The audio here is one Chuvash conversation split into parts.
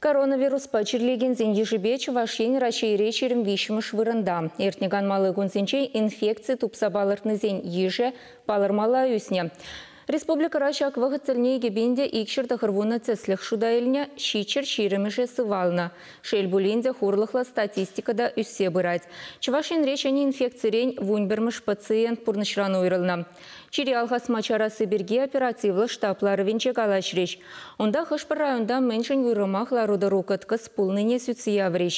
Коронавируспа чирлекенсен йышӗпе Чӑваш Ен Раҫҫейре ҫирӗм виҫҫӗмӗш вырӑнта. Иртнӗ канмалли кунсенче инфекци тупса палӑртнисен йышӗ палӑрмалла ӳснӗ. Республикӑра ҫак вӑхӑт тӗлне икӗпин икҫӗр тӑхӑр вунӑ тӗслӗх шута илнӗ, ҫиччӗр ҫирӗмӗшӗ сывалнӑ. Шел пулин те, хурлӑхлӑ статистика та ӳссе пырать. Чӑваш Енре ҫӗнӗ инфекцирен вун пӗрмӗш пациент пурнӑҫран уйрӑлнӑ. Чире алхасма чарасси пирки оперативлӑ штаб ларӑвӗнче калаҫрӗҫ. Унта хӑш-пӗр районта мӗншӗн уйрӑмах лару-тӑру кӑткӑс пулнине сӳтсе яврӗҫ.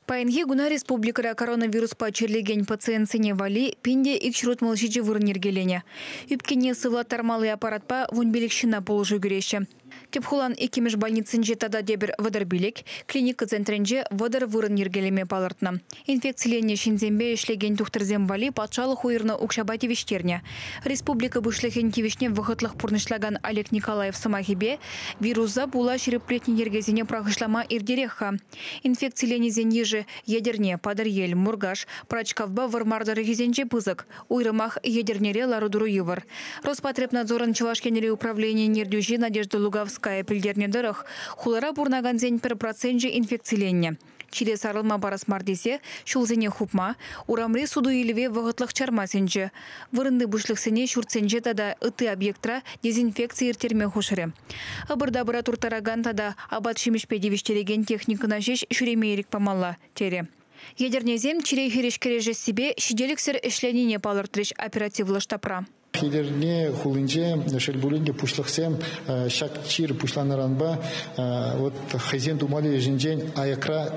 Паянхи куна республикӑра коронавируспа чирлекен пациентсене валли пин те ик ҫурутмал ҫичӗ вырӑн йӗркеленӗ. Ӳпкене сывлаттармалли аппаратпа вун пилӗк ҫынна пулӑшу кӳреҫҫӗ. Тӗп хулан иккӗмӗш больницинче тата тепӗр вӑтӑр пилӗк, клиника центрӗнче вӑтӑр вырӑн йӗркелеме палӑртнӑ. Инфекциленнӗ ҫынсемпе ӗҫлекен тухтӑрсем валли патшалӑх уйӑрнӑ укҫапа тивӗҫтернӗ. Республика Пуҫлӑхӗн тивӗҫне вӑхӑтлӑх пурнӑҫлакан Олег Николаев сӑмахӗпе, вируса пула ҫирӗплетнӗ йӗркесене пӑрахӑҫлама иртерех-ха. Инфекциленисен йышӗ Етӗрне, Патӑрьел, Муркаш, Пӑрачкавпа Вӑрмар тӑрӑхӗсенче пысӑк, Уйрӑмах Етӗрнере лару-тӑру йывӑр. Роспотребнадзорӑн Чӑваш Енри управленийӗн ертӳҫи Надежда Луговская пӗлтернӗ тӑрӑх, хулара пурӑнакансен пӗр проценчӗ инфекциленнӗ. Чире сарӑлма парас мар тесе ҫулсене хупма, урамри суту-илӗве вӑхӑтлӑх чарма сӗнчӗ. Вырӑнти пуҫлӑхсене ҫуртсенче тата ытти объектра дезинфекци ирттерме хушрӗ. Ӑпӑр-тапӑра турттаракан тата апат-ҫимӗҫпе тивӗҫтерекен техникӑна ҫеҫ ҫӳреме ирӗк памалла, терӗ. Етӗрнесем чире хирӗҫ кӗрешессипе ҫителӗксӗр ӗҫленине палӑртрӗҫ оперативлӑ штабра. Етӗрне хулинче, шел пулин те, пуҫлӑхсем ҫак чир пуҫланӑранпа вот хӑйсен тумалли ӗҫӗнчен аякра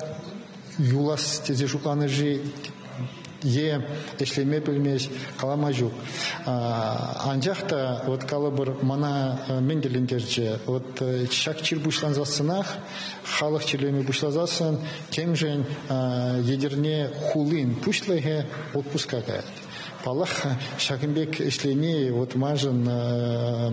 юлас тесе шутланӑ-ши е ӗҫлеме пӗлмест, калама ҫук. Анчах та вот калӑпӑр, мана мӗн тӗлӗнтерчӗ? Вот ҫак чир пуҫлансассӑнах, халӑх чирлеме пуҫласассӑн Темшӗн Етӗрне хулин пуҫлӑхӗ отпуска каять. Паллах, ҫакӑн пек ӗҫлени вот маншӑн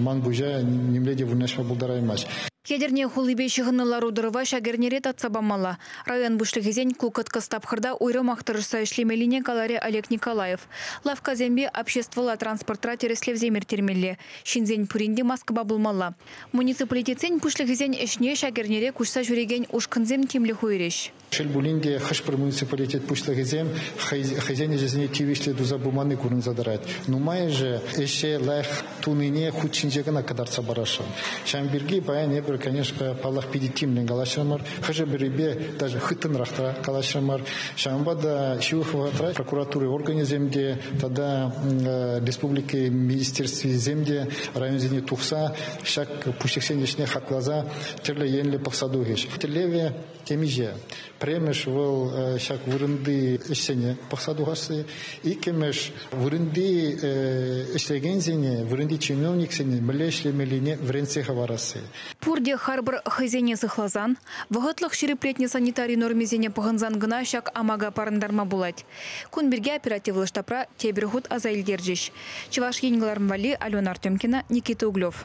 ман пуҫа нимле те вырнаҫма пултараймасть. Етӗрне хулипе ҫыхӑннӑ лару-тӑрӑва ҫак эрнере татса памалла. Район пуҫлӑхӗсен ку кӑткӑс тапхӑрта уйрӑмах тӑрӑшса ӗҫлемеллине каларӗ Олег Николаев. Лавккасемпе обществӑлла транспортра тӗрӗслевсем ирттермелле, ҫынсен пурин те маскӑпа пулмалла. Муниципалитетсен пуҫлӑхӗсен ӗҫне ҫак эрнере куҫса ҫӳрекен ушкӑнсем тимлӗх уйӑрӗҫ. Шел пулин те, хӑш-пӗр муниципалитет пуҫлӑхӗсем хӑй хӑйсен ӗҫӗсене тивӗҫлӗ туса пыманни курӑнса тӑрать. Нумайӑшӗ ӗҫе лайӑх тунине хут ҫинче кӑна кӑтартса парасшӑн. Ҫавӑн пирки паян эпир, конечно, паллах, питӗ тимлӗн калаҫрӑмӑр. Хӑшӗ-пӗрипе даже хыттӑнрах та калаҫрӑмӑр. Ҫавӑнпа та ҫывӑх вӑхӑтра прокуратура органӗсем те тата республика министерствисем те районсене тухса ҫак пуҫлӑхсен ӗҫне хакласа тӗрлӗ енлӗ пӑхса тухӗҫ. Тӗллевӗ темиҫе. Пӗрремӗш вӑл ҫак вырӑнти ӗҫсене пӑхса тухасси. Иккӗмӗш вырӑнти ӗҫлекенсене, вырӑнти чиновниксене мӗнле ӗҫлемеллине вӗрентсе хӑварасси. Пурте харпӑр хӑйсене сыхласан, вӑхӑтлӑх ҫирӗплетнӗ санитари нормисене пӑхӑнсан кӑна ҫак амака парӑнтарма пулать. Кун пирки оперативлӑ штабра тепӗр хут аса илтерчӗҫ Чӑваш Ен кӑларӑм валли Алена Артемкина, Никита Углев.